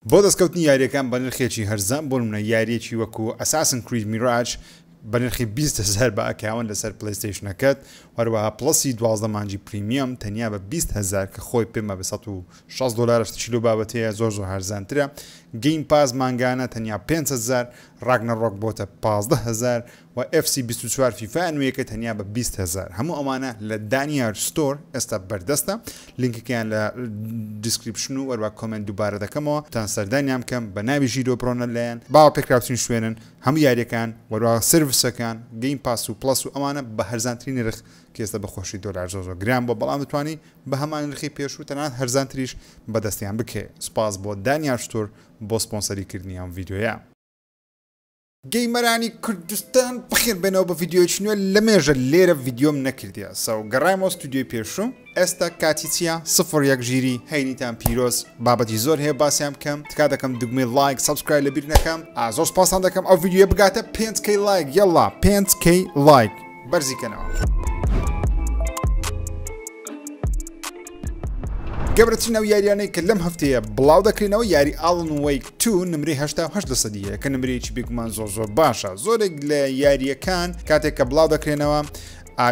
بۆ دەستکەوتنی یاریەکان بە نرخێکی هەرزان بۆ نمونە یاریەکی وەکو ئەساسن کرید میراج بە نرخی بیست هەزار بە ئەکاون لەسەر پلەیستەیشنەکەت وەروەها پڵەسی دوازدە مانگی پریمیەم تەنیا بە بیست هەزار کە خۆی پێمە بە سەد و شەست دۆلارە شتێکی لەو بابەتەیە زۆر زۆر هەرزانترە گەیم پاس مانگانە تەنیا پێنج هەزار ڕاگنەڕۆک بۆتە پازدە هەزار وە ئێف سی بیست و چوار فیفا نوێیەکە تەنیا بە بیست هەزار هەموو ئەوانە لە دانیار ستۆر ئێستا بەردەستە لینکەکەیان لە دیسکریپشن و هەروەک کۆمێنت دووبارە دەکەمەوە تان سەردانیان بکەن بە ناوی ژیرۆ برۆنە لەیان باوە پێکراوترین شوێنن هەموو یاریەکان وەروا سێرڤسەکان گەیم پاس و پڵەس و ئەوانە بە هەرزانترین نرخ کە ئێستا بە خۆشی دۆلار زۆر زۆر گران بوە بەڵام دەتوانی بە هەمان نرخی پێشوو تەنانەت هەرزانتریش بەدەستیان بکەی سوپاس بۆ دانیار ستۆر بۆ سپۆنسەری کردنی ئەم ڤیدیۆیە. گەیمەرانی کوردستان بەخێر بێنەوە بە ڤیدیۆیەکی نوێ لەمێژە لێرە ڤیدیۆم نەکردیە سەو گەڕایمەوە ستودیۆی پێشوم ئێستا کاتی چییە سفر یەک ژیری هەینیتان پیرۆز بابەتی زۆر هەیە باسیان بکەم تکا دەکەم دوگمەی لایک سبسکرای لەبیر نەکەم ئازۆ سپاسان دەکەم ئەو ڤیدیۆ بگاتە پێنج کەی لایک یەڵا پێنج کەی لایک بەرزیکەنەوە. گەورەترین ئەو یاریانەی کە لەم هەفتەیە بڵاو دەکرێنەوە یاری ئاڵن ویک تو نمری هەشتاهشت لە سەدی هەیە کە نمرەیەکی بێگومان زۆر زۆر باشە زۆرێک لە یاریەکان کاتێک کە بڵاو دەکرێنەوە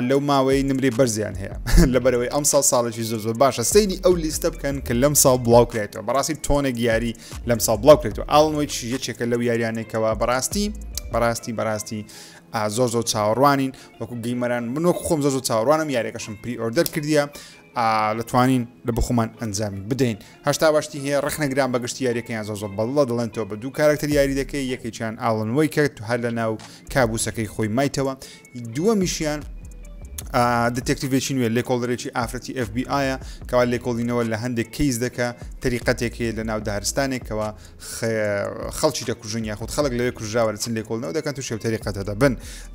لەو ماوەی نمری بەرزیان هەیە لەبەرەوەی ئەم ساڵ ساڵێکی زۆر زۆر باشە سەیری ئەو لیستە بکەن کە لەم ساڵ بڵاو کرێتەوە بەڕاستی تۆنێک یاری لەم ساڵ بڵاو کرێتەوە ئاڵن ویک یەکێکە لەو یاریانێکەوە بەڕاستی بەڕاستی بەڕاستی زۆر زۆر چاوەڕوانین وەکو گەیمەران من وەکو خۆم زۆر زۆر چاوەڕوانم یاریەکەشم پری ئۆردەر کردیە لەتوانین لە بخۆمان ئەنجامی بدەین هەشتا باشتی هەیە ڕخنەگران بە گشتی یاریەکەیان زۆر زۆر بەڵڵە دەڵێن تۆ بە دوو کارکتەر یاری دەکەی یەکێکیان ئاڵنەوەی کرد هەر لە ناو کابوسەکەی خۆی مایتەوە دووە میشیان دتێکتیڤێکی نوێ لێکۆڵدرێکی ئافرەتی FBI کەوا لێکۆڵینەوە لە هەندێک کەیس دەکە تەریقەتێکێ لە ناو دارستانێکەوە خەڵکی دەکوژن یاخود خەڵک لەوێ کوژراوە دەچن لێکۆڵنەوە دەکەن تو شێوتەری قەتە دەبن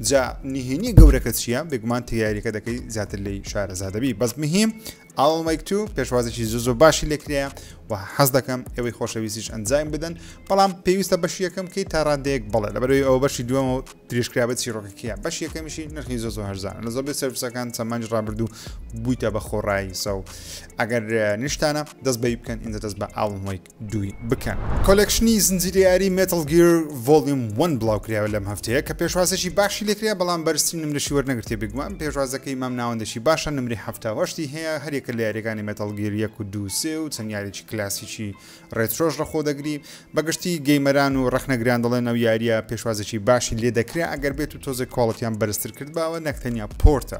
جا نهێنی گەورەکە چییە بێگومان تیاریەکە دەکەی زیاتر لی شارەزادەبی بەس مهم ئاڵمەیک تو پێشوازێکی زۆ زۆ باشی لێکرەیە و حەز دەکەم ئەوەی خۆشەویستیش ئەنجام بدەن بەڵام پێویستە بەشی یەکەم کەی تا ڕادەیەک بڵێ لە بەرەوەی ئەو بەشی دووەمە و تریشکرا بە چیرۆکەکەیە بەش یەکەمیشی نرخی زۆ زۆ هەرزان لە زۆبێ سروسەکان چەمانج ڕابردوو بوویتە بە خۆڕایی سە و ئەگەر نیشتانە دەست بەی بکەن ئینجا دەست بە ئاڵمەیک دووی بکەن. کۆلێکشنی زنجیرە یاری Metal Gear Volume One بڵاوکرایەوە لەم هەفتەیە کە پێشوازێکی باشی لێکرا بەڵام بەرزترین نمرەشی وەرنەگرتیە بێگومان پێشوازەکەی مام ناوەندێکی باشە نمرەی حەفتا و هەشتی هەیە هەریەکە لە یاریەکانی Metal Gear یەک و دوو سێ و چەند یاریی کلاسیکی ڕێترۆش ڕەخۆ دەگری بەگشتی گەیمەران و ڕەخنەگران دەڵێن ئەو یاریە پێشوازێکی باشی لێدەکرا ئەگەر بێت و تۆزێک کواڵتیان بەرزتر کردباوە نەک تەنیا پۆرتە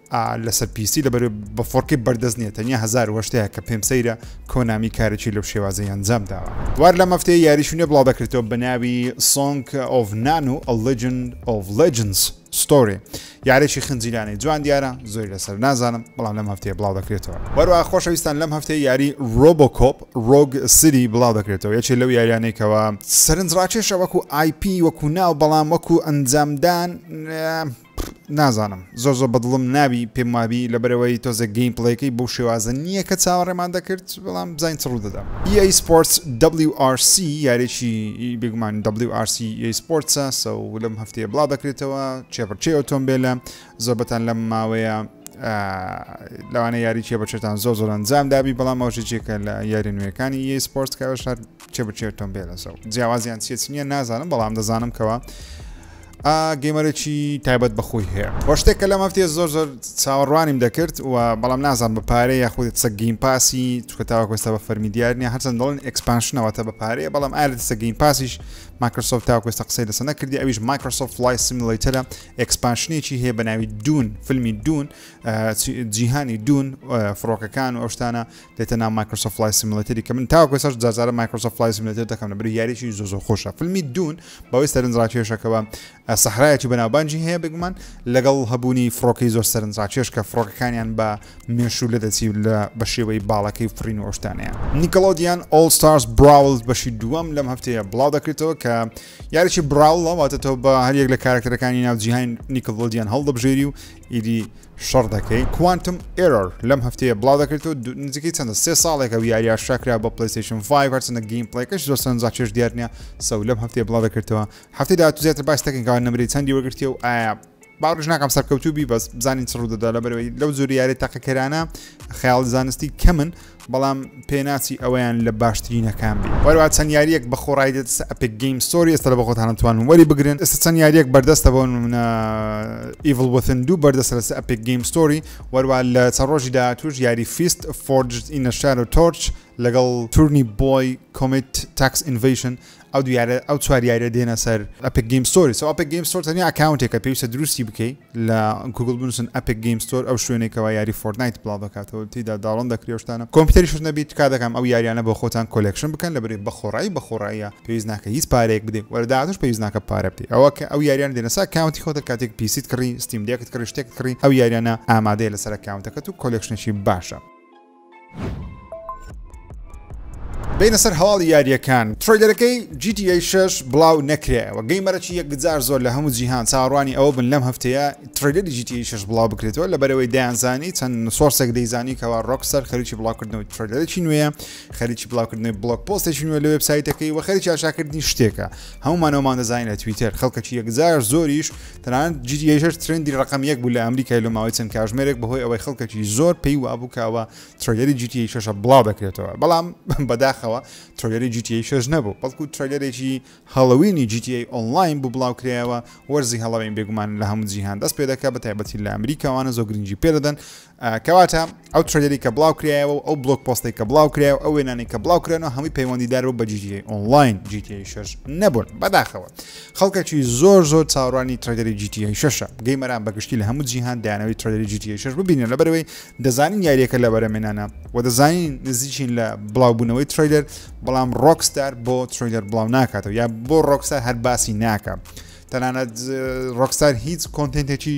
لەسەر پیسی لە بەرێ بە فۆرکی بەردەست نیە تەنیا هزار وەشتەیە کە پێم سەیرە کۆنامی کارێکی لەو شێوازی ئەنجام داوە دوار لە مەفتەیە یاریشونێ بڵاو دەکرێتەوە بە ناوی سۆنگ ئۆڤ نان و ئەلجن ئۆڤ لجنس ستۆری یارێکی خنجیلانەی جوان دیارە زۆری لەسەر نازانم بەڵام لەم هەفتەیە بڵاو دەکرێتەوە وەروە خۆشەویستان لەم هەفتەیە یاری ڕۆبۆکۆپ ڕۆگ سری بڵاو دەکرێتەوە یەکێ لەو یاریانێکەوە سەرنجڕاکێشە وەکو آیپی وەکو ناو بەڵام وەکو ئەنجامدان پڕ نازانم زۆر زۆر بەدڵم نابی پێم وابی لەبەرەوەی تۆزێک گەیم پڵەیەکەی بەو شێوازە نییە کە چاوەڕێمان دەکرد بەڵام بزانین چ ڕوودەدا EA Sports WRC یارێکی بێگومان WRC EA Sports سەو لەم هەفتەیە بڵاو دەکرێتەوە چێپڕچێ ئۆتۆمبیلە زۆربەتان لەم ماوەیە لەوانە یاری چێ بەچێتان زۆر زۆر ئەنجام دابی بەڵام ئەوژە جێکە لە یاری نوێەکانی یە سپۆرت کەەوە شار چێ بچێتۆم بێ لەسەر جیاوازیان چێت نییە نازانم بەڵام دەزانم کەەوە ئا گەیمەرێکی تایبەت بەخۆی هەیە وە شتێک کە لەم هەفتێ زۆر زۆر چاوەڕوانیم دەکرد و بەڵام نازان بە پارەیە یاخود سە گەیم پاسی چکە تاوەکۆستا بە فەرمی دیار نیە هەرچەند دڵن ئەکسپانشنەوە تا بە پارەیە بەڵام ئالە سە گەیم پاسیش مایکرۆسۆفت تاوەکۆستا قسەی لەسە نەکردی ئەویش مایکرۆسۆفت لای سیملەیتەرە ئەکسپانشنێکی هەیە بە ناوی دوون فیلمی دوون جیهانی دوون فڕۆکەکان و ئەوشتانە دێتە ناو مایکرۆسۆفت فڵای سیمولەتەری کە من تاوەکو ئێستاش جار جارە مایکرۆسۆفت فڵای سیمولەتەر دەکەم لەبەر یاریی زۆر زۆر خۆشە فیلمی دوون بەوەی سەرنجڕاکێشەکەوە سەحرایەتی و بەناوبانجی هەیە بێگومان لەگەڵ هەبوونی فڕۆکەی زۆر سەرنجڕاکێش کە فڕۆکەکانیان بە مێشوو لە دەچی و لە بە شێوەی باڵەکەی فڕین و ئەوشتانەیە نیکەڵۆدیان ئۆڵ ستارز براول بەشی دووەم لەم هەفتەیە بڵاو دەکرێتەوە کە یاریی براوڵە واتە تۆ بە هەریەک لە کارکتەرەکانی ناو جیهان نیکەڵۆدیان هەڵدەبژێری و ئیدی شەڕ دەکەی کوانتم ئێرۆر لەم هەفتەیە بڵاو دەکرێتەوە نزیکەی چەندە سێ ساڵێکە و یاریە شاکرا بە پلیسیشن 5 هەرچەندە گەیم پڵێکەش زۆر سەرنجا چێش دیار نیە سەو لەم هەفتەیە بڵاو دەکرێتەوە هەفتەی داهاتوو زیاتر باس دەکەین کەوا نمرەی چەندی وەرگرتیە و ئایا باوەڕش ناکەم سەرکەوتوبی بەس بزانین چڕوو دەدا لە بەرەوەی لەو زۆر یاری تاقیکەرانە خەیاڵ زانستی کەمن بەڵام پێناچی ئەویان لە باشترینەکان بی وەروا چەند یاریەک بە خۆڕای دێت ئەپێک گەیم سۆری ئێستا لە بە خۆتانە توانن وەری بگرن ئێستا چەند یاریەک بەردەستە بۆ منە ئیڤڵ وەتن دوو بەردەسە لەس ئەپێک گەیم سۆری وەروا لە چە ڕۆژی داهاتوش یاری فیست فۆرج ئینە شار و تۆرچ لەگەڵ تورنی بۆی کۆمیت تاکس ئینڤشن ئەو دوو یارە ئەو چوار یاریە دێنە سەر ئەپک گیم ستۆری سو ئەپک گیم ستۆر تەنیا ئەکاونتێکە پێویستە دروستی بکەی لە گوگل بنووسن ئەپک گیم ستۆر ئەو شوێنێکەوە یاری فۆرتنایت بڵاو دەکاتەوە تیدا داڵن دەکری شتانە کۆمپیوتەری شت نەبی تکا دەکەم ئەو یاریانە بۆ خۆتان کۆلێکشن بکەن لە بری بە خۆڕایی بە خۆڕاییە پێویست ناکە هیچ پارەیەک بدەیت وەرە داهاتوش پێویست ناکە پارە بدەیت ئەوە کە ئەو یاریان دێنە سەر ئەکاونتی خۆتە کاتێک پیسیت کڕی ستیم دێکت کڕی شتێکت کڕی ئەو یاریانە ئامادەیە لەسەر ئەکاونتەکەت و کۆلێکشنێکی باشە بینە سەر هەواڵی یاریەکان ترۆیلەرەکەی GTA 6 بڵاو نەکرێەوە گەیمەرەی یەکجار زۆر لە هەموو جیهان چاڕوانی ئەوە بن لەم هەفتەیە ترۆیلەری GTA 6 بڵاو بکرێتەوە لە بەرەوەی دەیانزانی چەند سۆرسێک دەیزانی کەوا ڕۆکسەر خەریکی بڵاوکردنەوەی ترۆیلەرێکی نوێە خەریکی بڵاوکردنەوەی بڵۆک پۆستێکی نوێ لە وبسایتەکەی وە خەریکی ئاشاکردنی شتێکە هەمومانەوەمان دەزانین لە تویتەر خەڵکەکی یەکجار زۆریش تەنانەت جی تی ئەیشەش ترندی ڕقم یەک بوو لە ئەمریکای لە ماوەی چەند کاژمێرێک بەهۆی ئەوەی خەڵکەکی زۆر پێی وابوو کەوە ترۆگەری جی تی ئەیشەشە بڵاو دەکرێتەوە بەڵام بەداخەوە ترۆگەری جی تی ئەیشەش نەبوو بەڵکو ترۆگەرێکی هەڵوینی جی تی ئەی ئۆنلاین بوو بڵاو کرایەوە وەرزی هەڵەوەین بێگومان لە هەموو جیهان دەست پێ دەکە بە تایبەتی لە ئەمریکاوانە زۆر گرنگی پێدەدەن کەواتە ئەو ترێدەری کە بڵاو کرایەوە و ئەو بلۆک پۆستی کە بڵاو کرای و ئەو وێنانی کە بڵاو کرێن و هەمووی پەیوەندیدار بوو بە جیتی ئۆنلاین جیتی شش نەبوون بەداخەوە خەڵکەکی زۆر زۆر چاڕانی ترێدەری جیتی ششە گەیمەران بەگشتی لە هەموو جیهان دایانەوەی ترێدەری جیتی شش ببینن لەبەرەوەی دەزانین یاریەکە لە بەرەمێنانە و دەزانین نزیکین لە بڵاوبوونەوەی ترێدەر بەڵام ڕۆکستار بۆ ترێدەر بڵاو ناکاتەوە یا بۆ ڕۆکستار هەر باسی ناکە تەنانەت ڕۆکستار هیچ کۆنتنتێکی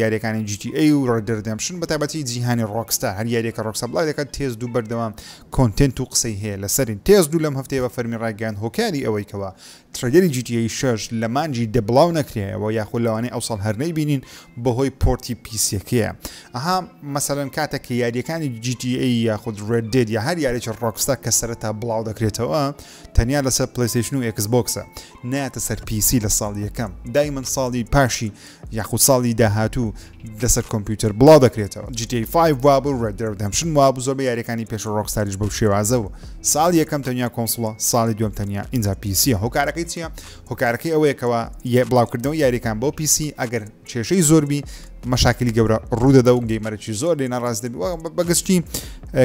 یاریەکانی جی تی ئەی و ڕێدردەمشن بە تابەتی جیهانی ڕۆکستا هەر یاریەکە ڕۆکسە بڵای دەکات تێز دوو بەردەوام کۆنتنت و قسەی هەیە لەسەرین تێز دوو لەم هەفتەیە بە فەرمی ڕایگەیان هۆکاری ئەوەی کەوا ترەیلەری جی تی ئەی شەش لە مانجی دە بڵاو نەکرایەوە یاخود لەوانەی ئەوساڵ هەر نەیبینین بەهۆی پۆرتی پیسیەکەیە ئەها مەسەلەن کاتە کە یاریەکانی جی تی ئەی یاخود ڕێد دێت یا هەر یاریی ڕۆکستا کە سەرەتا بڵاو دەکرێتەوە تەنیا لەسەر پلیسیشن و ئێکس بۆکسە ناتە سەر پیسی لە ساڵ یەکەم دای من ساڵی پاشی یاخود ساڵی داهاتوو لەسەر کۆمپیوتەر بڵاو دەکرێتەوە GTA 5 وابوو و Red Dead Redemption وابوو زۆر بە یاریەکانی پێش ڕۆکستاریش بەو شێوازە و ساڵ یەکەم تەنیا کۆنسڵە ساڵی دوم تەنیا ئینجا پیسیە هۆکارەکەی چییە هۆکارەکەی ئەوەیەکەوە یە بڵاوکردنەوە یاریەکان بۆ پیسی ئەگەر کێشەی زۆربی مەشاکلی گەورە ڕوودەدا و گەیمەرەی زۆر لێ ناڕاست دەبی بەگشتی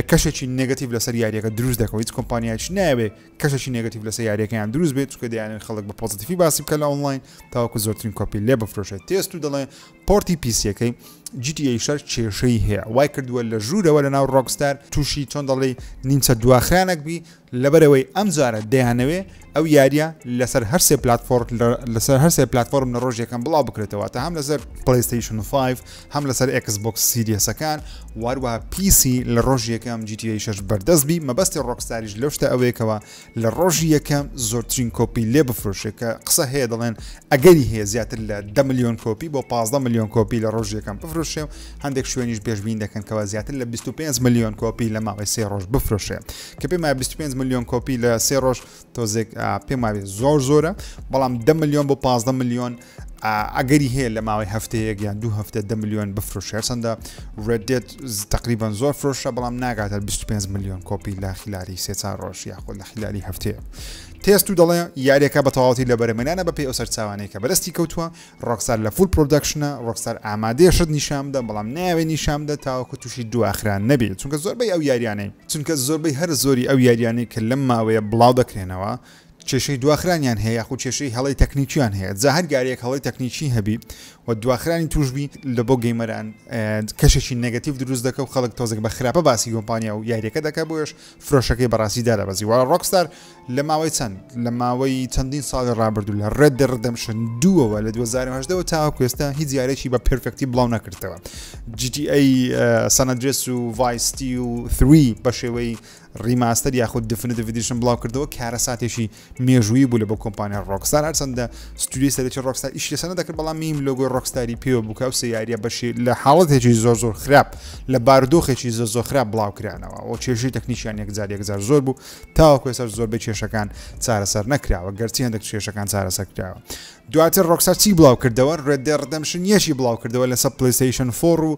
کەشێکی نگەتیب لەسەر یاریەکە دروست دەکەوە هیچ کۆمپانیایش ناوێ کەشێکی نێگەتیڤ لەسەر یاریەکەیان دروست بێت چونکە دەیانەوێت خەڵک بە پۆزەتیفی باسی بکات لە ئۆنڵاین تاوەکو زۆرترین کۆپی لێ بفرۆشێت تێستو دەڵێ پۆرتی پیسیەکەی GTA شەر کێشەی هەیە وای کردووە لە ژوورەوە لە ناو ڕۆکستار تووشی چۆن دەڵێ نیمچە دواخرانەک بی لەبەرەوەی ئەم جارە دەیانەوێ ئەو یاریە لەسەر هەرسێ پلتفۆر لەسەر هەرسێ پلتفۆرم لە ڕۆژ یەکەم بڵاو بکرێتەوە تا هەم لەسەر پلیستیشن 5 هەم لەسەر ئێکس بۆکس سیریەسەکان واروها پیسی لە ڕۆژی یەکەم جیتی شش بەردەست بی مەبەستی ڕۆکستاریش لەو شتە ئەوەیەکەوە لە ڕۆژی یەکەم زۆرترین کۆپی لێ بفرۆشێت کە قسە هەیە دەڵێن ئەگەری هەیە زیاتر لە ده میلیۆن کۆپی بۆ 15 میلیۆن کۆپی لە ڕۆژ یەکەم بفرۆشێ و هەندێک شوێنیش پێشبین دەکەنکەوە زیاتر لە 25 میلیۆن کۆپی لە ماوەی سێ ڕۆژ بفرۆشێ کە پێم 25 میلیۆن کۆپی لە سێ ڕۆژ تۆزێک پێم زۆر زۆرە بەڵام ده میلیۆن بۆ 15 میلیۆن ئەگەری هەیە لە ماوەی هەفتەیەک یان دوو هەفتە دە میلیۆن بفرۆشێ هەرچەندە Red Dead تقریبان زۆر فرۆشە بەڵام ناگاتە 25 میلیۆن کۆپی لە خلاری سێ چار ڕۆژ یاخۆ لە خلاری هەفتەیە تێست و دەڵێ یاریەکە بە تەواوەتی لە بەرەمێنانە بە پێ ئەو سەرچوانەیە کە بەرستی کەوتووە ڕۆکسار لە فول پرۆدەکشنە ڕۆکسار ئامادەیە شت نیشامدە بەڵام ناوێ نیشامدە تاوەکو تووشی دواخران نەبێت چونکە زۆربەی ئەو یاریانەی چونکە زۆربەی هەر زۆری ئەو یاریانەی کە لەم ماوەیە بڵاو دەکرێنەوە کێشەی دواخرانیان هەیە یاخود کێشەی هەڵەی تەکنیکیان هەیە جا هەر گارێک هەڵەی تەکنیکی هەبی و دواخرانی توشبی لە بۆ گەیمەران کەشێکی نگەتیف دروست دەکە و خەڵک تۆزێک بە خراپە باسی یۆمپانیا و یاریەکە دەکە بۆش فرۆشەکەی بەڕاستی دارەبەزی وڵا ڕۆکستار لە ماوەی چەند لە ماوەی چەندین ساڵی ڕابردوو لە ڕێد دەڕدەمشن دووەوە لە 2010ەوە تا کوێستا هیچ یارێکی بە پرفێکتی بڵاو نەکردەوە GTA سەنەدرێس و ڤایستی و 3 بە شێوەی ڕیماستەر یاخود دفنتڤ ئیدیشن بڵاوکردەوە کارەساتێکی مێژوویی بوو لە بۆ کۆمپانیا ڕۆکستار هەرچەندە ستودیوی سەرەکی ڕۆکستار ئیش لەسەر نەدەکرد بەڵام میم لۆگۆی ڕۆکستاری پێوە بوو کە ئەو سێ یاریە بەشی لە حاڵەتێکی زۆر زۆر خراپ لە بارودۆخێکی زۆر زۆر خراپ بڵاوکرانەوە ئەو کێشەی تەکنیشیان یەکجار یەکجار زۆر بوو تاوەکو ێسەر زۆربەی کێشەکان چارەسەر نەکراوە گەرچی هەندێک کێشەکان چارەسەر کراوە دواتر ڕۆکسار چی بڵاو کردەوە ڕێدێ ڕدەمشن یەشی بڵاو کردەوە لەسەر پلیستیشن فۆڕ و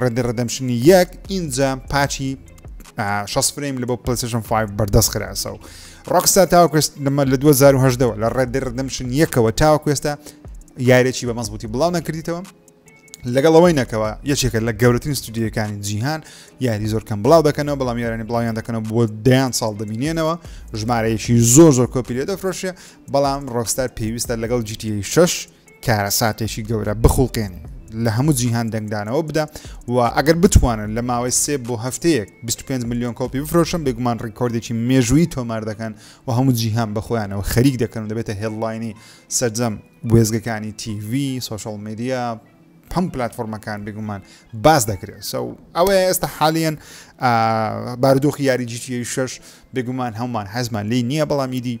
ڕێد دێد ڕێدەمشن یەک ئینجا پاچی 6 فرەیم لە بۆ پلسشن 5 بەردەست خراەسە و ڕۆکستا تاوکوست لەمە لە 2010ەوە لە ڕێد دێد ڕێدەمشن یەکەوە تاوکوێستە یارێکی بە مەزبوتی بڵاو نەکردیتەوە لەگەڵ ئەوەی نەکەوە یەکێکە لە گەورەترین ستودیەکانی جیهان یاری زۆر کەم بڵاو دەکەنەوە بەڵام یارانی بڵاویان دەکەنەوە بۆ دەیان ساڵ دەبینێنەوە ژمارەیەکی زۆر زۆر کۆپی لێ دەفرۆشێ بەڵام ڕۆکستار پێویستە لەگەڵ جیتی 6 کارەساتێکی گەورە بخوڵقێنی لە هەموو جیهان دەنگدانەوە بدا و ئەگەر بتوانن لە ماوەی سێ بۆ هەفتەیەک 25 میلیۆن کۆپی بفرۆشن بێگومان ڕیکۆردێکی مێژووی تۆمار دەکەن و هەموو جیهان بەخۆیانەوە خەریک دەکەن و دەبێتە هێڵلاینی سەرجەم وێزگەکانی تیV سوۆشال میدیا هەم پلتفۆرمەکان بگومان باس دەکرێت سو ئەوەیە ئێستا حالیان بارودۆخی یاری جیتی شش بگومان هەمومان حەزمان لی نییە بەڵام ئیدی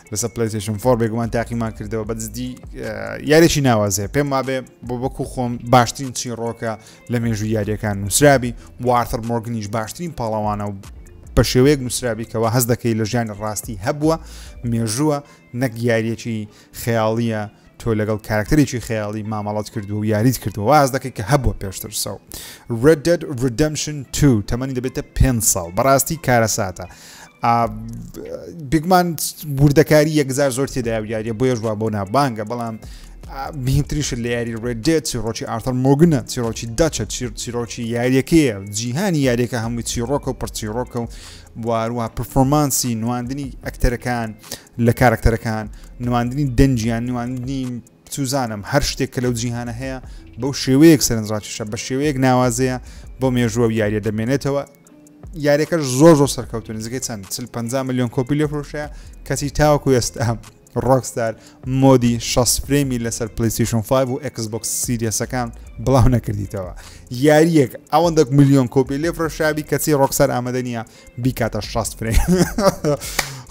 لەسەر پلیتشن فۆر بێگومان تاقیمان کردەوە بە دزدی یاریی ناوازێ پێم وابێ بۆ بەکو خۆم باشترین چی ڕۆکە لە مێژوو یاریەکان نووسرابی وارتر مۆرگنیش باشترین پاڵەوانە و بە شێوەیەک نووسرابیکەوە هەز دەکەی لە ژیانی ڕاستی هەبووە مێژووە نەک یاریەکی خەیاڵیە تۆ لەگەڵ کارکتەرێکی خەیاڵی مامەڵەت کردووە و یاریت کردووە واز دەکەی کە هەبووە پێشتر سەو Red Dead Redemption 2 تەمەنی دەبێتە پێ ساڵ بەڕاستی کارەساتە بگمان وردەکاری یەکزار زۆر تێدا و یاریە بۆ یەژوا بۆ نابانگە بەڵام بهینتریش لە یاری ڕێدێت چیڕۆکی ئارتەر مۆگنە چیرۆکی داچە چیرۆکی یاریەکەیە جیهانی یاریەکە هەمووی چیڕۆکە و پرچیڕۆکە و واروها پرفۆمانسی نواندنی ئەکتەرەکان لە کارەکتەرەکان، نواندنی دەنگیان، نواندنی چوزانم هەر شتێک کە لەو جیهانە هەیە بەو شێوەیەک سەرنجڕاکیشە بە شێوەیەک ناوازەیە بۆ مێژووە و یاریە دەمێنێتەوە یاریەکەش زۆر زۆر سەرکەوتو نزیکەی چەند چل 50 میلیۆن کۆپی لێ فرۆشەیە کەچی تاوەکو ئێستا ڕۆکستار مۆدی 6 فرێمی لەسەر پلیسیشن 5 و ئەکسبکس سیریەسەکان بڵاو نەکردیتەوە یاریەک ئەوەندەک میلیۆن کۆپی لێ فرۆشابی کەچی ڕۆکسەر ئامادە نیە بیکاتە شاست فرێ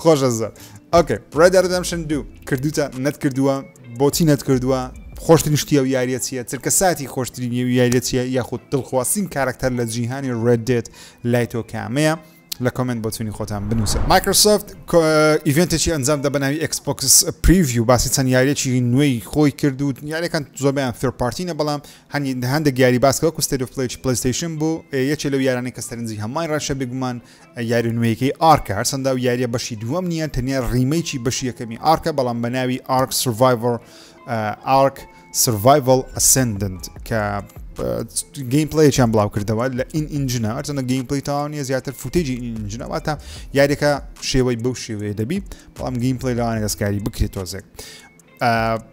خۆشە زۆر ئۆکە پرێدەردەمشن دوو کردوتە نەتکردووە بۆچی نەتکردووە خۆشترین شتیە و یاریە چیە چرکە ساتی خۆشترین و یاریە چیە یاخود دڵخواستین کارکتەر لە جیهانی ڕێدێت لای تۆ کامەیە لە کۆمنت بۆچوونی خۆتان بنووسە مایکرۆسۆفت ئیڤێنتێکی ئەنجام دە بەناوی ئەکسپۆکس پریوی و باسی چەند یاریەکی نوێی خۆی کرد و یاریەکان زۆربیان فێرپارتینە بەڵام هەندێک یاری باس کە وەکو ستەیت ئۆف پلەی پلەیستەیشن بوو یەکێ لەو یارانەی کە سەرنجی هەمووان ڕێشە بێگومان یاری نوێیەکەی ئارکە هەرچەندە و یاریە بەشی دووەم نییە تەنیا ڕیمەیکی بەشی یەکەمی ئارکە بەڵام بە ناوی ئارک سڤایڤەر ئارک سڤایڤل ئەسندنت کە گەیم پلیان بڵاو کردەوە لە ئین ئینجنە ئەرزەنە گەیم پلی تاوانە زیاتر فوتێجی ئینجنەواتە یاریەکە شێوەی بەو شێوەیە دەبی بەڵام گەیم پلی لەوانە دەستکاری بکرێت تۆزێک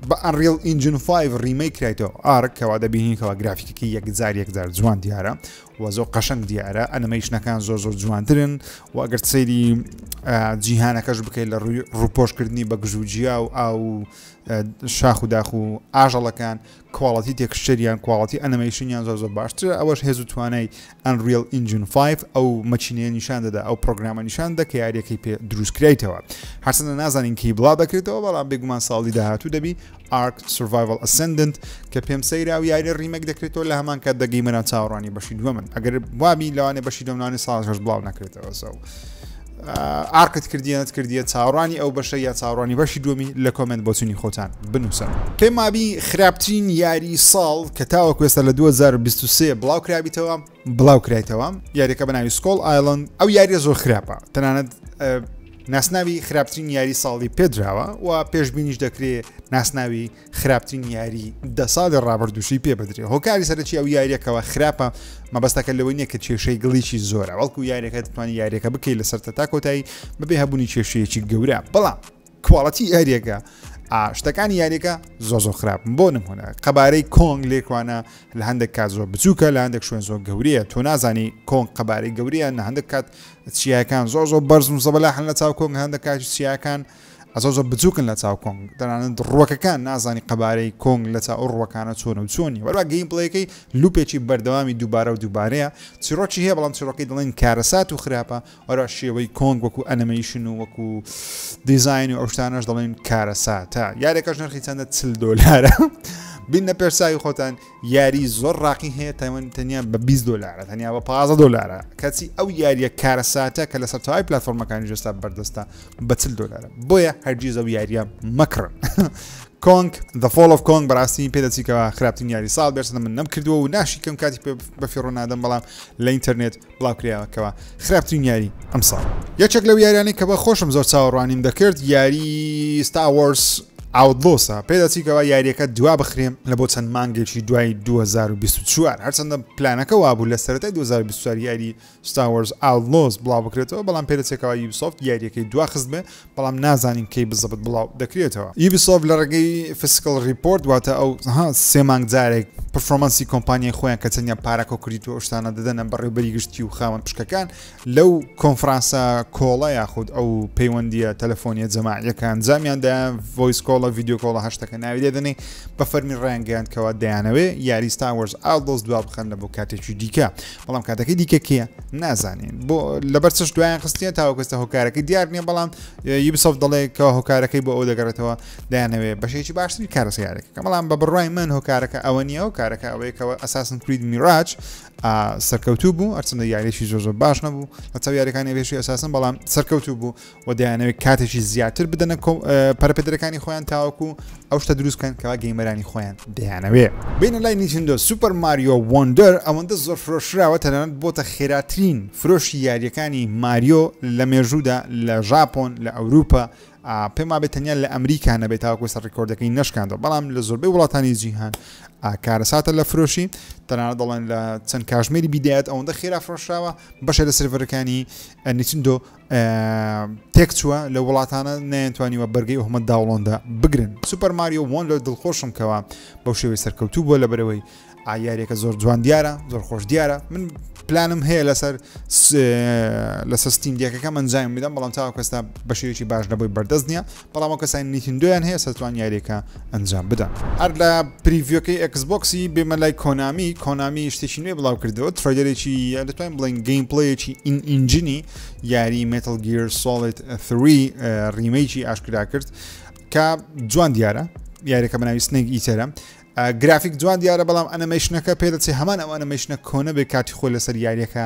بە ئەنریڵ ئینجن 5 ڕیمەی کرایتەوە ئارک کەوا دەبینیتەوە گرافیکەکە یەکجار یەکجار جوان دیارە و زۆر قەشنگ دیارە ئەنەمەیشنەکان زۆر زۆر جوانترن و ئەگەر سەیری جیهانەکەش بکەیت لە ڕووی ڕوپۆشکردنی بە گژوجیا و ئاو شاخ و داخ و ئاژەڵەکان کواڵیتی تێکسچەر یان کواڵیتی ئەنمەیشنیان زۆر زۆر باشترە ئەوەش هێز و توانای ئەنریل ئینجن 5 ئەو مەچینەیە نیشان دەدا ئەو پرۆگرامە نیشان دە کە یاریەکەی پێ دروستکرایتەوە هەرچەندە نازانین کی بڵا دەکرێتەوە بەڵام بێگومان ساڵی داهاتوو دەبی ئارک سڤایڤل ئەسندنت کە پێم سەیرا و یاری ڕیمەک دەکرێتەوە لە هەمان کات دەگەیمەران چاوەڕانی بەشی دووە من ئەگەر وابی لەوانێ بەشی دۆمنانی ساڵ هەش بڵاو نەکرێتەوە سەو ئارقت کردیە نەت کردیە چاوەڕوانی ئەو بەشە یا چاوەڕوانی بەشی دووەمی لە کۆمنت بۆچوونی خۆتان بنووسن پێمابی خراپترین یاری ساڵ کە تاوە کوێستە لە 2023 بڵاو کرابیتەوە بڵاو کرایتەوە یاریەکە بەناوی سکۆڵ ئایلند ئەو یاریە زۆر خراپە تەنانەت ناسناوی خراپترین یاری ساڵی پێدراوە و پێشببینیش دەکرێت ناسناوی خراپترین یاری دە ساڵی ڕابردووشی پێ بدرێ هۆکاری سەرەکی ئەو یاریەکەوە خراپە مەبەستەکە لەوەی نیە کە کێشەی گڵیی زۆرە وەڵکو یاریەکە دەتوانانی یاریەکە بکەیت لە سەرتە تا کۆتایی بەبێ هەبوونی کێشەیەکی گەورە بەڵام کواڵەتی یاریەکە شتەکانی یاریەکە زۆ زۆ خراپ بۆ نمونە قەبارەی کۆنگ لێکوانە لە هەندێک کات زۆر بچووکە لە هەندێک شوێن زۆر گەورەیە تۆ نازانی کۆنگ قەبارەی گەورەیە نە هەندێک کات چیاکان زۆر زۆر بەرزم زەبەلا هەن لە چاو کۆنگ هەندە کاتی چیاکان زۆر زۆر بچوکن لە چاو کۆنگ تەنانەت ڕوەکەکان نازانی قەبارەی کۆنگ لە چاو ئەو ڕوەکانە چۆنە و چۆن نیە وەروا گەیم پڵەیەکەی لوپێکی بەردەوامی دووبارە و دووبارەیە چیڕۆکی هەیە بەڵام چیڕۆکی دڵێن کارەسات و خراپە وەروا شێوەی کۆنگ وەکو ئەنەمەیشن و وەکو دیزاین و ئەوشتانەش دەڵێن کارەساتە یارێکەش نرخی چەندە چل دۆلارە بینە پێرساوی خۆتان یاری زۆر ڕاقی هەیە تایوان تەنیا بە 20 دلارە تەنیا بە 15 دلارە کەچی ئەو یاریە کارەساتە کە لە سەرتاوای پلتفۆرمەکانی جستا بەردەستە بە چل دلارە بۆیە هەرگیز ئەو یاریە مەکڕن کۆنگ The Fall of Kong بەڕاستی پێدەچیکەوە خراپترین یاری ساڵ بێرسە من نەم کردووە و ناشیکەم کاتی بەفیڕۆ نادەم بەڵام لە ئینتەرنێت بڵاوکراوەکەوە خراپترین یاری ئەم ساڵ یەکێک لەو یاریانەی کە بە خۆشم زۆر چاوەڕوانیم دەکرد یاری ستاوەرس ئاودلۆسە پێداچیکەوە یاریەکە دوا بخرێم لە بۆ چەند مانگێکی دوای 2024 هەرچەندە پلانەکە وابوو لە سەرەتای 2024 یاری ستاوەرز ئاودلۆس بڵاو بکرێتەوە بەڵام پێدەچێکەوە یوبسۆفت یاریەکەی دواخست بێ بەڵام نازانین کەی بزەبت بڵاو دەکرێتەوە. یوبیسۆفت لە ڕێگەی فسکڵ ڕیپۆرت واتە ئەو سێ مانگ جارێک پرفۆرمانسی کۆمپانیای خۆیان کە تەنیا پارە کۆکریت و شتانە دەدەنە بەڕێوبەری گشتی و خاوەن پشکەکان لەو کۆنفرانسە کۆڵە یاخود ئەو پەیوەندیە تەلەفۆنیە جەماعیەکان جامیان دایان ڤۆیس کۆڵە ڤیددیو کۆڵە هەشتەکە ناوی دەدەنێ بە فەرمی ڕیانگەیان کەوا دەیانەوەێ یاری ستاوەرز ئالدۆز دوا بخەن لە بۆ کاتێکی دیکە بەڵام کاتەکەی دیکە کێە نازانین بۆ لەبەر چش دوایان خستیە تاوەکەستە هۆکارەکەی دیار نییە بەڵام یبسەف دەڵێ کە هۆکارەکەی بۆ ئەو دەگەڕێتەوە دایانەوێ بەشێکی باشتری کارسیارێکە کە بەڵام بە بڕای من هۆکارەکە ئەوە نییە و کارەکە ئەوەیەکەوە ئەساسن کرید میراج سەرکەوتوو بوو ئەرچندە یاریشی زۆزە باش نەبوو لە چاو یاریەکانی بێشی ئەساسن بەڵام سەرکەوتوو بوو و دەیانەوێت کاتێکی زیاتر بدەنە پەرپێدرەکانی خۆیان تاوەکو ئەو شتە دروست بکەن کەوا گەیمەرانی خۆیان دەیانەوێ بینە لای نیچندۆ سوپەر ماریۆ وەندەر ئەوەندە زۆر فرۆشراوە تەنانەت بۆتە خێراترین فرۆشی یاریەکانی ماریۆ لە مێژوودا لە ژاپۆن لە ئەوروپا پێم وابێت تەنیا لە ئەمریکا نەبێت تاوەکو سەر ڕیکۆردەکەی نشکاندەوە بەڵام لە زۆربەی وڵاتانی جیهان کارەساتە لە فرۆشی تەنانە دەڵێن لە چەند کاژمێری بیدایەت ئەوەندە خێرا فرۆشراوە بەشێ لە سرڤەرەکانی نیچندۆ تێک چووە لە وڵاتانە نەیانتوانیوە بەرگی ئۆهمە داوڵۆندا بگرن سوپەر ماریۆ وۆن لە دڵخۆشم کەەوە بەو شێوەی سەرکەوتوو بۆ لە بەرەوەی ئایارێکە زۆر جوان دیارە زۆر خۆش دیارە من پلانم هەیە لەسەر لەسەر ستیم دیەکەکە من جایم بدەم بەڵام تاوکەستا بەشێکی باش نەبووی بەردەست نیە بەڵام ئەو کەسانەی نیتیندۆیان هەیە سەرتوان یاریەکە ئەنجام بدەن. هەر لە پریڤیۆکەی ئێکس بۆکسی بێمە لای کۆنامی، کۆنامی شتێکی نوێ بڵاو کردەوە ترەیلەرێکی یا دەتوانین بڵێین گەیم پلەیەکی ئین ئینجنی یاری مێتڵ گیر سۆڵید 3 ریمەیکی ئاشکرا کرد کە جوان دیارە یاریەکە بەناوی سنێک ئیتەرە گرافیک جوان دیارە بەڵام ئەنەمەیشنەکە پێدەچێ هەمان ئەو ئەنەمەیشنە کۆنە بێ کاتی خۆی لەسەر یاریەکە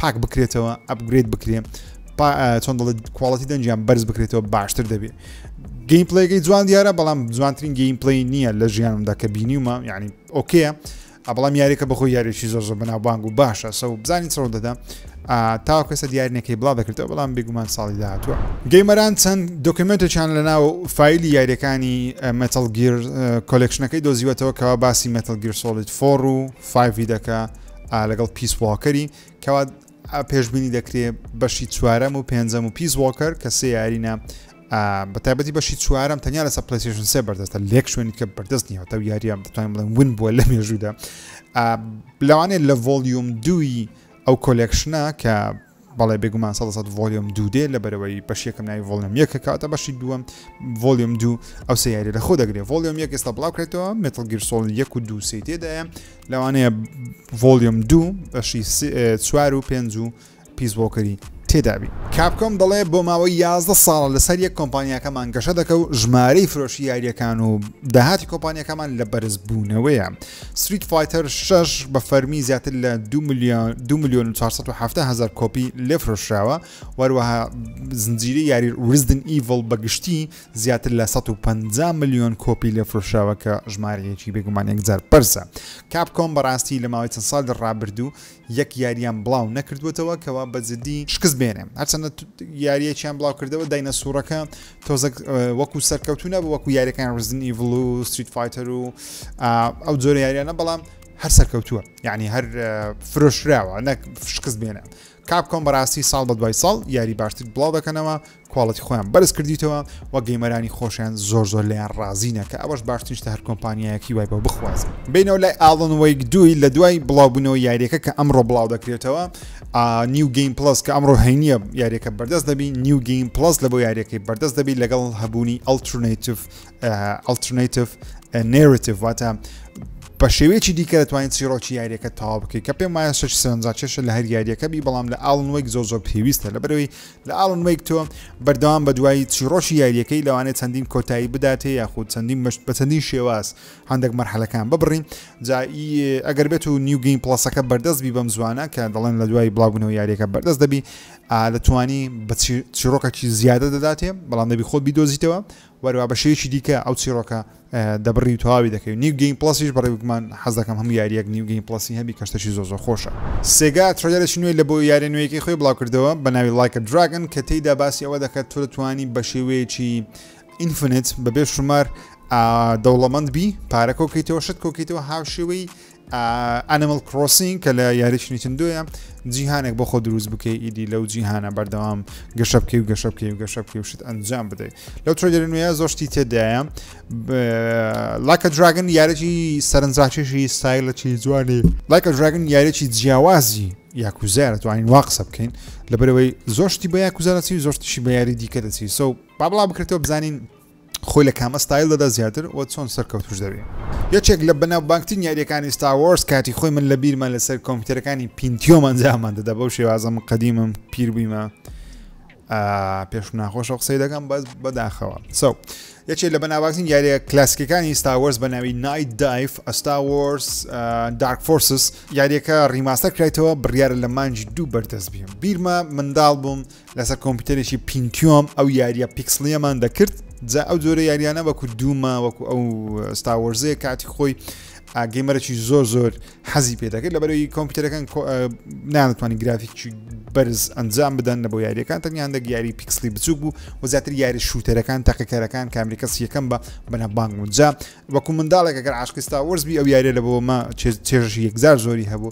پاک بکرێتەوە ئەپگرێت بکرێ چۆن دەڵێت کوواڵەتی دەنجیان بەرز بکرێتەوە باشتر دەبێت گەیم پلەیەکەی جوان دیارە بەڵام جوانترین گەیم پلی نییە لە ژیانمدا کە بینیومە یعنی ئۆکەیە بەڵام یاریەکە بەخۆ یاریشی زۆر زۆر بەناوبانگ و باشە سە بزانین چڕ دەدا تا کەسە دیارنەکەی بڵا دەکردەوە بەڵام بێگومان ساڵی داهاتوە گەیمەران چەند دۆکمنتێکیان لە ناو فیلی یاریەکانی مەتەڵگیر کۆلکشنەکەی دۆزیوەتەوە کەوا باسی مەتەڵگیر سۆڵیت فۆڕ و فیدەکە لەگەڵ پیس واکەری کەوا پێشببینی دەکرێ بەشی چوارەم و پێنجەم و پیس واکەر کە سێ یارینە بە تایبەتی بەشی چوارم تەنیا لە سەپلسیشن سێ بەردەستە لێک شوێنی کە بەردەست نیە تا یاریان دەتوانین بڵێن ون بووە لە مێژوودا لەوانێت لە ڤۆلیوم دووی ئەو کۆلێکشنە کە بەڵێ بێگومان سەدە سەد ڤۆلیۆم دوو دێ لە بەرەوەی بەش یەکەم ناوی ڤۆلیۆم یەکە کاتە بەشی دووەم ڤۆلیۆم دوو ئەو سیاری لە خۆ دەگرێت ڤۆلیۆم یەک ئێستا بڵاوکرێتەوە مێتڵ گیرسۆڵ یەک و دوو سی تێدایە لەوانەیە ڤۆلیۆم دوو بەشی چوار و پێنج و پیس بۆکەری تێدابی کاپکۆم دەڵێ بۆ ماوەی 11 ساڵە لەسەر یەک کۆمپانیاکەمان گەشە دەکە و ژمارەی فرۆشی یاریەکان و داهاتی کۆمپانیەکەمان لە بەرزبوونەوەیە ستریت فایتەر شەش بە فەرمی زیاتر لە دو ملیۆن دو ملیۆن و چوار سەد و حەفتا هەزار کۆپی لێفرۆشراوە وەروەها زنجیرەی یاری ریزدن ئیڤڵ بە گشتی زیاتر لە سەد و پەنجا ملیۆن کۆپی لێفرۆشراوە کە ژمارەیەکی بێگومان یەکجار بەرزە کاپکۆم بەڕاستی لە ماوەی چەند ساڵی ڕابردوو یەک یارییان بڵاو نەکردووەتەوە کەوا بە جددی شکست بێنێ هەرچەندە یاریەکیان بڵاو کردەوە داینە سوورەکە تۆزەک وەکو سەرکەوتو نەبوو وەکو یاریەکان ڕزن ئیڤڵ و ستریت فایتەر و ئەو جۆرە یاریانە بەڵام هەر سەرکەوتووە یعنی هەر فرۆشراوە نەک شکست بێنە کاپ کۆم بەڕاستی ساڵ بە دوای ساڵ یاری باشتر بڵاو دەکەنەوە کواڵتی خۆیان بەرز کردیتەوە و گەیمەرانی خۆشیان زۆر زۆر لەیان ڕازینە کە ئەوەش باشترین شتە هەر کۆمپانیایەکی وای بۆ بخوازن بینەوە لای ئاڵن وەیک دووی لە دوای بڵاوبوونەوە یاریەکە کە ئەمڕۆ بڵاو دەکرێتەوە نیو گەیم پلس کە ئەمڕۆ هەینیە یاریەکە بەردەست دەبی نیو گەیم پلس لە بۆ یاریەکەی بەردەست دەبی لەگەڵ هەبوونی ئەلترناتیف ئەلترناتیف نێرتیف واتە بە شێوەیەکی دیکە دەتوانین چیڕۆکی یاریەکە تاوا بکەیت کە پێم وایە شش سەرنجاکێشە لە هەر یاریەکەبی بەڵام لە ئاڵن وەیک زۆ زۆر پێویستە لە بەرەوەی لە ئاڵن وەیک تۆ بەردەوام بە دوای چیڕۆکی یاریەکەی لەوانێت چەندین کۆتایی بداتێ یاخود چەندین مەشت بە چەندین شێواز هەندێک مەرحەلەکان ببڕین جایی ئەگەر بێت و نیوگەین پڵسەکە بەردەست بی بەم زوانە کە دەڵێن لە دوای بڵاوبوونەوە یاریەکە بەردەست دەبی لە توانی بە چیڕۆکەکی زیادە دەداتێ بەڵام دەبی خۆت بیدۆزیتەوە وەروا بە شێوەیەکی دیکە ئەو چیڕۆکە دەبڕی و تەواوی دەکەی و نیو گەیم پڵەسیش بەڕێ گومان حەز دەکەم هەموو یاریەک نیو گەیم پڵەسی هەبی کە شتەکی زۆر زۆر خۆشە. سێگا ترەیلەرێکی نوێی لە بۆ یاریە نوێیەکەی خۆی بڵاو کردەوە بە ناوی Like a Dragon کە تێیدا باسی ئەوە دەکات تۆ دەتوانی بە شێوەیەکی Infinite بە بێ شومار دەوڵەمەند بی پارە کۆکەیتەوە شت کۆکەیتەوە هاوشێوەی ئەنیمل کرۆسینگ کە لە یاریی نیتندۆیە جیهانێک بۆ خۆ دروست بکەی ئیدی لەو جیهانە بەردەوام گەشە بکەی و گەشە بکەی و گەشە بکەی وشت ئەنجام بدەیت لەو ترێدر نوێە زۆشتی تێدایە لاکە دراگن یارێکی سەرنجڕاکێشی سایلەکی جوانی لاکە دراگن یارێکی جیاوازی یاکوزار توانین وا قسە بکەین لەبەرەوەی زۆشتی بە یاکوزارەسی زۆشتیشی بە یاری دیکە دەچی سو با بڵا بکرێتەوە بزانین خۆی لە کام ستایل دەدا زیاتر و چۆن سەرکەوتوش دەبێ یەکێک لە بەناوبانگترین یاریەکانی ستاوەرز کاتی خۆی من لە بیرمە لەسەر کۆمپیوتەرەکانی پینتیۆمان جامان دەدا بەو شێوازە من قەدیمم پیر بوویمە پێش ناخۆشە قسەی دەکەم بەس بەداخەوە سو یەکێک لە بەناوبانگترین یاریە کلاسیکەکانی ستاوەرز بە ناوی نایت دایف ئەستاوەرز دارک فۆرسس یاریەکە ڕیماستەر کرایتەوە بڕیارە لە مانجی دوو بەردەست بیم بیرمە منداڵ بووم لەسەر کۆمپیوتەرێکی پینتیۆم ئەو یاریە پیکسلیەمان دەکرد جا ئەو جۆرە یاریانە وەکو دوومە وەکو ئەو ستاوەرزەیە کاتی خۆی ئاگەیمەرەی زۆر زۆر حەزی پێ دەکرد لە بەرەوەی کۆمپیوتەرەکان نانتوانانی گرافیکی بەرز ئەنجام بدەن لە بۆ یاریەکان تەنیان دەک یاری پیکسلی بچوک بوو و زیاتر یاری شووتەرەکان تەقیکەرەکان کامریکەس یەکەم بە بەنەبانگ وجا وەکو منداڵێک گەر عاشقستا وەرزبی ئەو یاریە لە بۆمە چێژی یەکزار زۆری هەبوو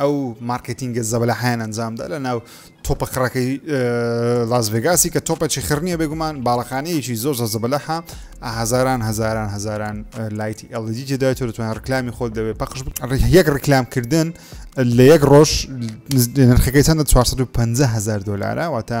ئەو مارکێتینگە زەبەلاحەیان ئەنجامدا لە ناو تۆپە قڕەکەی لاس ڤێگاسی کە تۆپەچی خڕنیە بێگومان باڵەخانەیەکی زۆر زۆر زەبەلەحە هەزاران هەزاران هەزاران لایتی ئەلدی تێدا تۆ دەتوانێت ڕکلامی خۆت دەوێت پەخش یەک ڕکلام کردن لە یەک ڕۆژ نرخەکەی چەندە 450 هزار دلارە واتە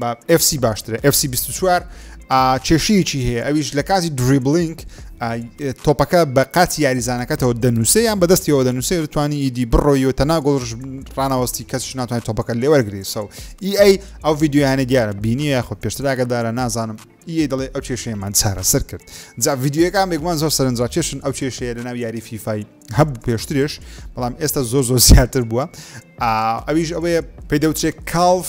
بە FC باشترە FC 24 کێشەیەکی هەیە ئەویش لە کاتی دریبلینگ تۆپەکە بە قاتی یاریزانەکەتەوە دەنووسێ یان بەدەستیەوە دەنووسێ توانی ئیدی بڕۆیەوە تەنا گۆڵش ڕناوەستی کەس ناتوانێت تۆپەکە لێوەرگری سەو ئی ئەی ئەو یددیویانە دیارە بینی یاخود پێشتراگە دارە نازانم ئی دەڵێ ئەو کێشەیەمان چارە سەر کرد جا یددیوەکان بێگومان زۆر سەرنجڕا کێشن ئەو کێشەیە لە ناو یاری فیفای هەبوو پێشترێش بەڵام ئێستا زۆر زۆر زیاتر بووە ئەویش ئەوەیە پێدەوتێک کاڵف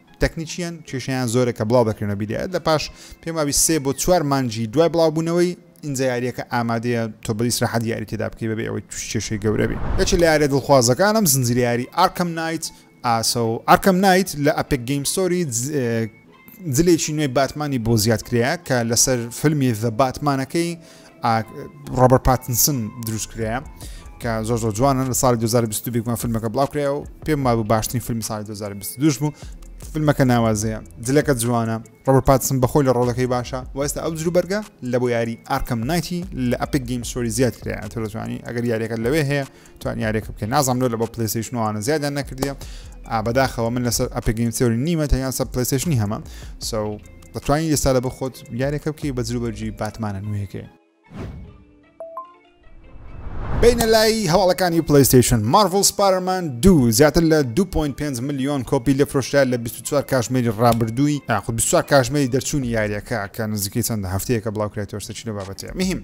تەکنیکییەن، کێشەیان زۆرە کە بڵاو دەکرێنەوە بیدایەت لە پاش پێم وابی سێ بۆ چوار مانگی دوای بڵاو بوونەوەی، ئینجا یارییەکە ئامادەیە تۆ بە ئیسراحەت یاری تێدا بکەی بەبێ ئەوەی تووشی کێشەی گەورە بی. یەکێک لە یارییە دڵخوازەکانم زنجیرەی یاری ئارکەم نایت ە و ئارکەم نایت لە ئەپێک گەیم ستۆری جلێکی نوێی باتمانی بۆ زیاد کرایە کە لەسەر فیلمی زە باتمانەکەی ڕۆبەر پاتنسن دروست کرایە کە زۆر زۆر جوانن لە ساڵی 2020 بێکمان فیلمەکە بڵاو کرای و پێم وابوو باشترین فیلمی ساڵی 2022 بوو فیلمەکە ناوازەیە جلەکە جوانە ڕۆبەر پاتسن بەخۆی لە ڕۆڵەکەی باشە وەستا ئەو جروبەرگە لە بۆ یاری ئارکەم نایتی لە ئەپیک گەیم سۆری زیاد کرایە تۆزوانی ئەگەر یاریەکە لەوێ هەیە توانی یارێکە بکە نازانم لۆ لە بە پلیسیشن وانە زیادیان نەکردە ئابداخەوە من لەسەر ئەپگەیم سێوری نیمە تا یان سەر پلیسیشنی هەمە سو دەتوانین ئێستا لە بخۆت یارێکە بکەی بە جروبەرجی باتمانە نوێەکەی بینە لای هەواڵەکانی پلیستیشن مارڤل سپارمان دوو زیاتر لە 2.5 میلیۆن کۆپی لە فرۆشرا لە 24 کاژمێری ڕابردووی یاخود 24 کاژمێری دەرچوونی یاریەکە کە نزیکەی چەندە هەفتەیەکە بڵاوکرێتەوە شتەچی لە بابەتەیە مهم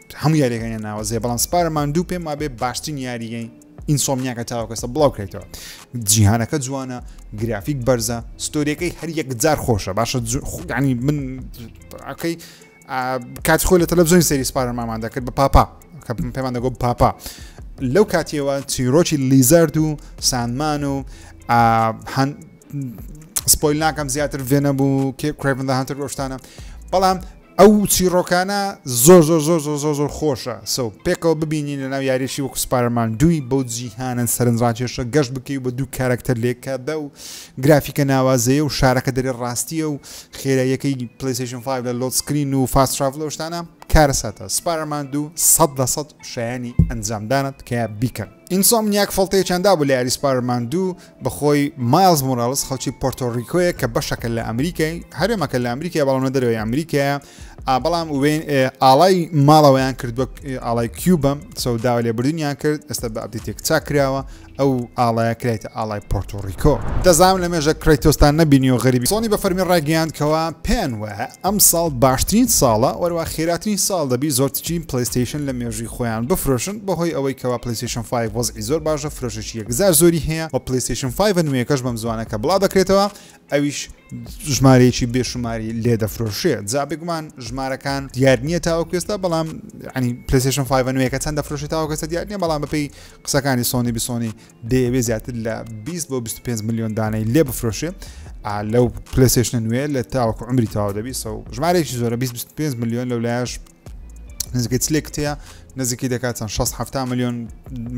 هەموو یاریەکانی ناوەزێ بەڵام سپارە ماندوو پێم وابێ باشترین یاریگەی ئینسۆمنیاکە تاوەکەسە بڵاو کەیتەوە جیهانەکە جوانە گرافیک بەرزە ستۆریەکەی هەر یەکجار خۆشە باشە ینی من ئەکەی کات خۆی لە تەلەبزۆین سری سپارە مامان دەکرد بە پاپا کە پێمان دەگۆ پاپا لەو کاتیەوە چیرۆکی لیزارد و سانمان و سپۆیل ناکەم زیاتر ڤێنە بوو کێ کرێڤندە هەنتر گۆشتانە بەڵام ئەو چیڕۆکانە زۆر زۆر زۆر زۆر زۆر زۆر خۆشە سو پێکەوە ببینین لەناو یاریەکی وەکو سپارمان دووی بەو جیهانە سەرنجڕاکێشە گەشت بکەی و بە دوو کارەکتەر لەیەککاتدا و گرافیکە ناوازەیە و شارەکە دەرێ ڕاستیە و خێراییەکەی پلەیستەیشن فایڤ لە لۆد سکرین و فاست تراڤڵ و شتانە کارەساتە سپارمان دوو سەد لە سەد شایەنی ئەنجامدانە تکایە بیکەن. ئینسۆمنیاک فەڵتەیەکیان دابوو لە یاری سپایدەرمان دوو بە خۆی مایڵز مۆراڵس خەڵکی پۆرتۆریکۆیە کە بەشەکە لە ئەمریکای هەرێمەکە لە ئەمریکای بەڵام لە دەرەوەی ئەمریکایە بەڵام وێن ئاڵای ماڵەوەیان کردووە ئاڵای کیوبم سەوداوە لێ بردنیان کرد ئێستا بە ئەبدیتێک چاک کراوە ئەو ئاڵایە کرێتە ئاڵای پۆرتۆریکۆ دەزانم لە مێژە کریتۆستان نەبینی و غەریبی سۆنی بە فەرمی ڕاگەیاندکەوە پێیان وایە ئەم ساڵ باشترین ساڵە وەروا خێراترین ساڵ دەبی زۆرتچین پلەیستەیشن لە مێژووی خۆیان بفرۆشن بەهۆی ئەوەی کەوا پلەیستەیشن فایڤ وەزعی زۆر باشە فرۆشەشی یەکجار زۆری هەیە وە پلەیستەیشن فایڤە نوێیەکەش بەم زوانە کە بڵاو دەکرێتەوە ئەویش ژمارەیەکی بێشماری لێ دەفرۆشێت جا بگومان ژمارەکان دیار نییە تاوەکوێستا بەڵام ینی پلسیشن 5 نوێەکە چەند دەفرۆشێت تاوەکەسە دیار نیە بەڵام بەپی قسەکانی سۆنی بسۆنی دەیەوێت زیاتر لە 20 بۆ 25 ملیۆن دانەی لێ بفرۆشێ لەو پلسێشنە نوێ لە تاوەکو عمری تاوا دەبی سە ژمارێکی زۆرە 25 ملیۆن لەو لایش نزگە چلێک تەیە نزیکی دەکات چەند 6 میلیۆن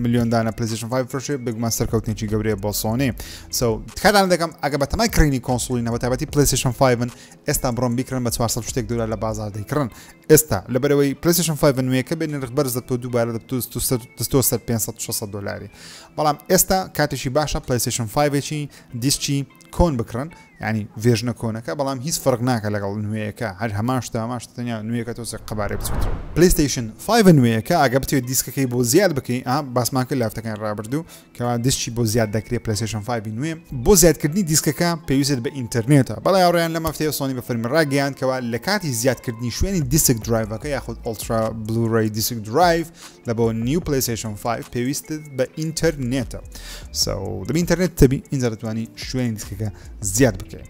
میلیۆن دانە پلیزیشن 5 فرۆشێ بگمان سەرکەوتنێکی گەورەیە بۆ سۆنێ سو تکاتان دەکەم ئەگە بە تەمای کڕینی کۆنسولی نەوە تابەتی پلیسیشن 5 من ئێستا بڕۆن بیکڕن بە چوار سەد و شتێک دۆلار لە بازاڕ دەیکڕن ئێستا لەبەرەوەی پلەیستێشن 5 نوێیەکە بێ نرخ بەرز دەبتەوە دووبارە دەبتو ست و سەر دەست و سەر 500 و 600 دۆلاری بەڵام ئێستا کاتێکی باشە پلەیستێشن 5 ێکی دیسکی کۆن بکڕن ینی ڤێژنە کۆنەکە بەڵام هیچ فەرق ناکە لەگەڵ نوێیەکە هەر هەمان شتە هەمان شتە تەنیا نوێیەکە تۆ سێ قەبارەی بچێتەوە پلەیستێشن 5 نوێیەکە ئاگە بتوێت دیسکەکەی بۆ زیاد بکەی ئا باسمان کرد لافتەکان ڕابردوو کە دیسکی بۆ زیاد دەکرێت پلەیستەیشن فایڤی نوێ بۆ زیادکردنی دیسکەکە پێویستت بە ئینتەرنێتە بەڵێ هاوڕێیان لەم هەفتەیە سۆنی بە فەرمی ڕاگەیاند کەوا لە کاتی زیادکردنی شوێنی دیسک درایڤەکە یاخود ئۆڵترا بلوڕی دیسک درایڤ لە بۆ نیو پلەیستەیشن 5 پێویستت بە ئینتەرنێتە سەو دەبی ئینتەرنێت تەبی ئینجا دەتوانی شوێنی دیسکەکە زیاد بکەیت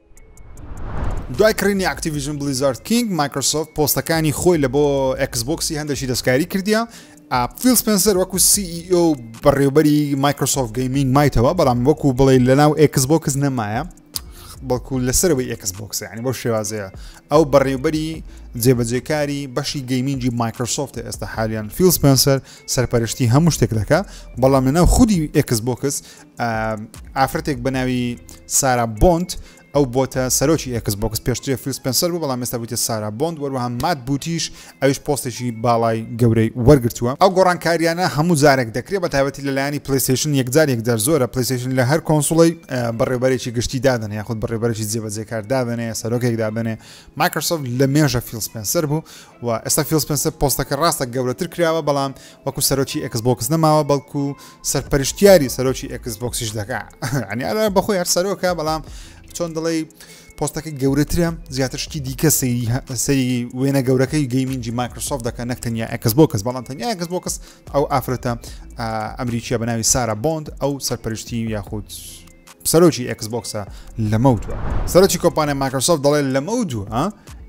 دوای کڕینی ئەکتیڤیژن بلیزارد کینگ مایکرۆسۆفت پۆستەکانی خۆی لە بۆ ئەکسبکسی هەندێکی دەستکاری کردیا فیل سپنسەر وەکو CEO و بەڕێوبەری مایکرۆسۆفت گەیمینگ مایتەوە بەڵام وەکو بڵێ لە ناو ئەکسبکس نەمایە بەڵکو لەسەرەوەی ئەکسبکس ینی بۆ شێوازەیە ئەو بەڕێوبەری جێبەجێکاری بەشی گەیمینگی مایکرۆسۆفت ئێستا حالیان فیل سپنسەر سەرپەرشتی هەموو شتێک دەکە بەڵام لەناو خودی ئەکسبکس ئافرەتێک بە ناوی سارا بۆند ئەو بۆتە سەرۆکی ئەکس بۆکس پێشترێ فیلسپنسەر بوو بەڵام مێستا بووتە سارا بۆند وەروەها مات بوتیش ئەوش پۆستێکی باڵای گەورەی وەرگتووە ئەو گۆڕانکاریانە هەموو جارێک دەکرێت بە تایبەتی لەلایانی پلیسیشن یەکجار یەکجار زۆرە پلیسیشن لە هەر کۆنسڵی بەڕێبەرێکی گشتی دادن یاخود بەڕێبەرێکی جێبەجێکار دادنێ سەرۆکێک دادنێ مایکرسۆف لە مێژە فیلسپنسەر بوو و ئێستا فیڵ سپێنسەر پۆستەکە ڕاستە گەورەتر کراوە بەڵام وەکو سەرۆکی ئێکس بۆکس نەماوە بەڵکو سەرپەرشتیاری سەرۆکی ئێکس بۆکسیش دەکا ئەنی ئەرا بەخۆی هەر سەرۆکە بەڵام چۆن دڵی پۆستەکە گەورەترە زیاتر شتی دیکە سەیری سەری وێنە گەورەکەی گەیمینجی مایکرۆسۆف دەکەن نەک تەنیا ئەکەس بۆ کەس بەڵام تەنیا ئەکەس بۆ کەس ئەو ئافرەتە ئەمریکیە بە ناوی سارا بۆند ئەو سەرپەرشتی یاخود سەرۆکی ئێکس بۆکسە لەمەوت وە سەرۆکی کۆمپانیا ماکرسۆف دەڵێت لەمەو دوو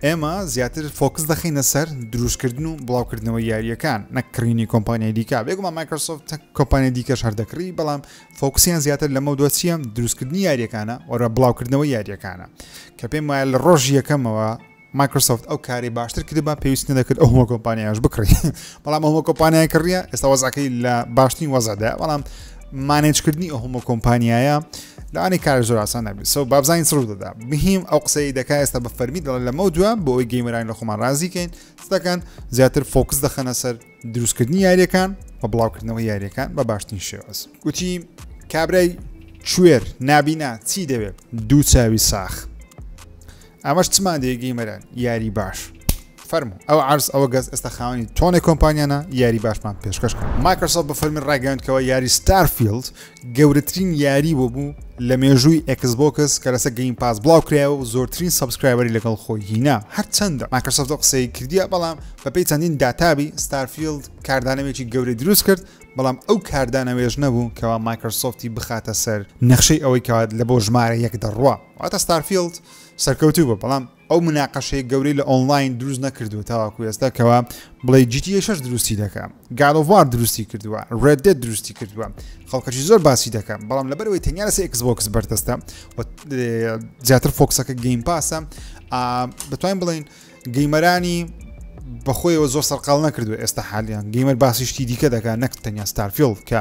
ئێمە زیاتر فۆکس دەخینە سەر دروستکردن و بڵاوکردنەوە یاریەکان نەکڕینی کۆمپانیای دیکە بێگومان مایکرۆسۆفت کۆمپانیا دیکەش هەردەکڕی بەڵام فۆکسیان زیاتر لەمە دۆچیە دروستکردنی یاریەکانە وەرە بڵاوکردنەوە یاریەکانە کە پێم وایە لە ڕۆژ یەکەمەوە مایکرۆسۆفت ئەو کارەی باشتر کردبا پێویست نەدەکرد ئەو هەموو کۆمپانیاش بکڕی بەڵام ئەو هەموو کۆمپانیای کڕیە ئێستا وەزعەکەی لە باشترین وەزعدا بەڵام مانێجکردنی ئەو هەموو کۆمپانیایە لەوانی کار زۆر ئاسان نەبێت سەو بابزانین سڕ دەدا بهیم ئەو قسەی دەکا ئێستا بە فەرمی دەڵێن لەمە دووە بۆ ئەوی گەیمەرانی لە خۆمان رازیکەین دەکەن زیاتر فۆکس دەخەنە سەر دروستکردنی یاریەکان بە بڵاوکردنەوە یاریەکان بە باشترین شێواز گوتی کابرای کوێر نابینا چی دەوێت دوو چاوی ساخ ئەمەش چمان دێ گەیمەران یاری باش فەرمو ئەو عرز ئەوە گەز ئێستا خاوەنی تۆنێ کۆمپانیانە یاری باشمان پێشکەش کرد مایکرۆسۆف بە فەرمی ڕایگەیاندکەوە یاری ستارفیلد گەورەترین یاری بۆ بوو لە مێژووی ئەکسبۆکس کە لەسە گەیم پاس بڵاو کرایەوە و زۆرترین سبسکرایبەری لەگەڵ خۆی هینا هەرچەندە مایکرۆسۆفت قسەی کردیە بەڵام بەپی چەندین داتابی ستارفیلد کاردانەوێکی گەورەی دروست کرد بەڵام ئەو کاردانەوێژ نەبوو کەوا مایکرۆسۆفتی بخاتە سەر نەخشەی ئەوەی کات لە بۆ ژمارە یەک دەڕوە واتە ستارفیڵد سەرکەوتوو بوو بەڵام ئەو مناقەشەی گەورەی لە ئۆنلاین دروست نەکردووە تاواکو ئێستا کەوا بڵێ جیتی شش دروستی دەکە گالۆڤار دروستی کردووە ڕێدێت دروستی کردووە خەڵکەشی زۆر باسی دەکەم بەڵام لەبەرەوەی تەنیا لەسە ئەکسبۆکس بەردەستە زیاتر فۆکسەکە گەیم پاسە بەتوانین بڵین گەیمەرانی بەخۆیەوە زۆر سەرقال نەکردو ئێستا حالیان گەیمەر باسی شتی دیکە دەکات نەک تەنیا ستارفیل کە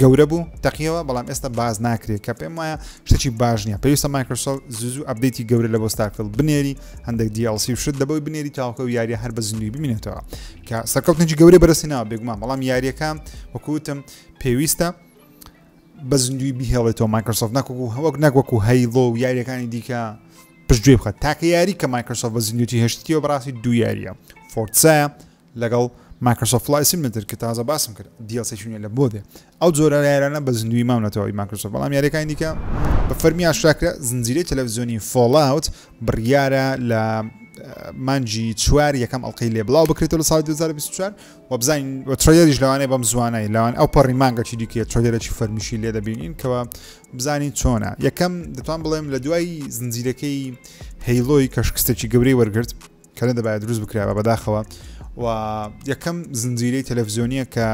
گەورە بوو تەقیەوە بەڵام ئێستا باز ناکرێت کە پێم وایە شتێکی باش نییە پێویستە مایکرۆسۆفت زوزو ئەبدەیتی گەورە لە بۆ ستارفیل بنێری هەندێک DLC و شت دەبەوەی بنێری تاوکە و یاریە هەر بە زیندوی بمینێتەوە کە سەرکەوتنێکی گەورە بەرەسی ناوە بێگومان بەڵام یاریەکە وەکوتم پێویستە بە زیندوی بهێڵێتەوە مایکرۆسۆفت نەکو و هەوەک نەکوەکو هەیڵۆ و یاریەکانی دیکە پشتگوێ بخە تاکە یاری کە مایکرۆسۆف بە زیندوتی هێشتیەوە بەڕاستی دو یاریە فۆرسایە لەگەڵ مایکرۆسۆفت فڵای سیملێتر کە تازە باسم کرد دیڵسێکی نوێ لە بۆدێ ئەو جۆرە یارانە بە زیندووی مام لە تەواوی مایکرۆسۆفت بەڵام یاریەکانی دیکە بە فەرمی ئاشکرا کرا زنجیرەی تەلەڤزیۆنی فۆڵاوت بڕیارە لە مانجی چوار یەکەم ئەڵلقەی لێ بڵاو بکرێتەوە لە ساڵی 2024 و بزانین و ترۆیەریش لەوانەیە بەم زوانای لەوان ئەو پەڕی مانگەکی دیکە ترۆیەرەی فەرمیشی لێ دەبینین کەەوە بزانین چۆنە یەکەم دەتوان بڵێم لە دوای زنجیرەکەی هەیلۆی کەشکستێکی گەورەی وەرگرت کە نەدەبایە دروست بکرابە بەداخەوە و یەکەم زنجیرەی تەلەڤزیۆنیە کە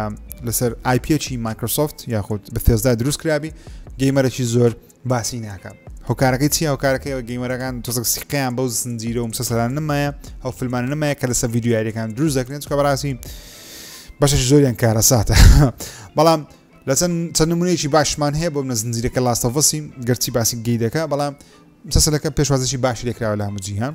لەسەر آیپچی مایکرۆسۆفت یاخود بە تێزدا دروست کرابی گەیمەرەی زۆر باسی ناکە هۆکارەکەی چی هۆکارەکەیەوە گەیمەرەکان تۆزک سیقیان بەو زنجیرە و مسەسەران نمایە ئەو فلمانە نمایە کە لەسەر یددیویارەکان دروست دەکرێن چکە بەڕاستی بەشش زۆریان کارە ساتە بەڵام لە چەند چەند نمونەیەکی باشمان هەیە بۆ منە زنجیرەکە لاستەڤسی گەرچی باسی گەی دەکە بەڵام مسەسەلەکە پێشوازشی باش لێکراوە لە هەموو جیهان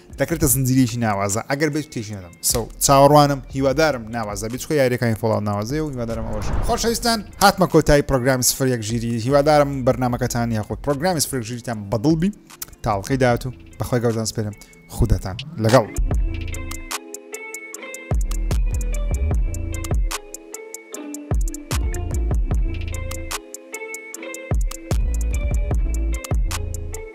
دەکرێتە زنجیرەیەکی ناوازە ئەگەر بێت تێکی نەدەم سەو چاوەڕوانم هیوادارم ناوازە بێت چکە یاریەکانی فڵاو ناوازەیە و هیوادارم ئەوەش خۆشەویستان هاتمە کۆتایی پرۆگرامی سفر یەک ژیری هیوادارم بەرنمەکەتان یاخود پرۆگرامی سفر ژیریتان بەدڵ بی تاڵقی داات و بەخوای گەوزان سپێرم خودەتان لەگەڵ.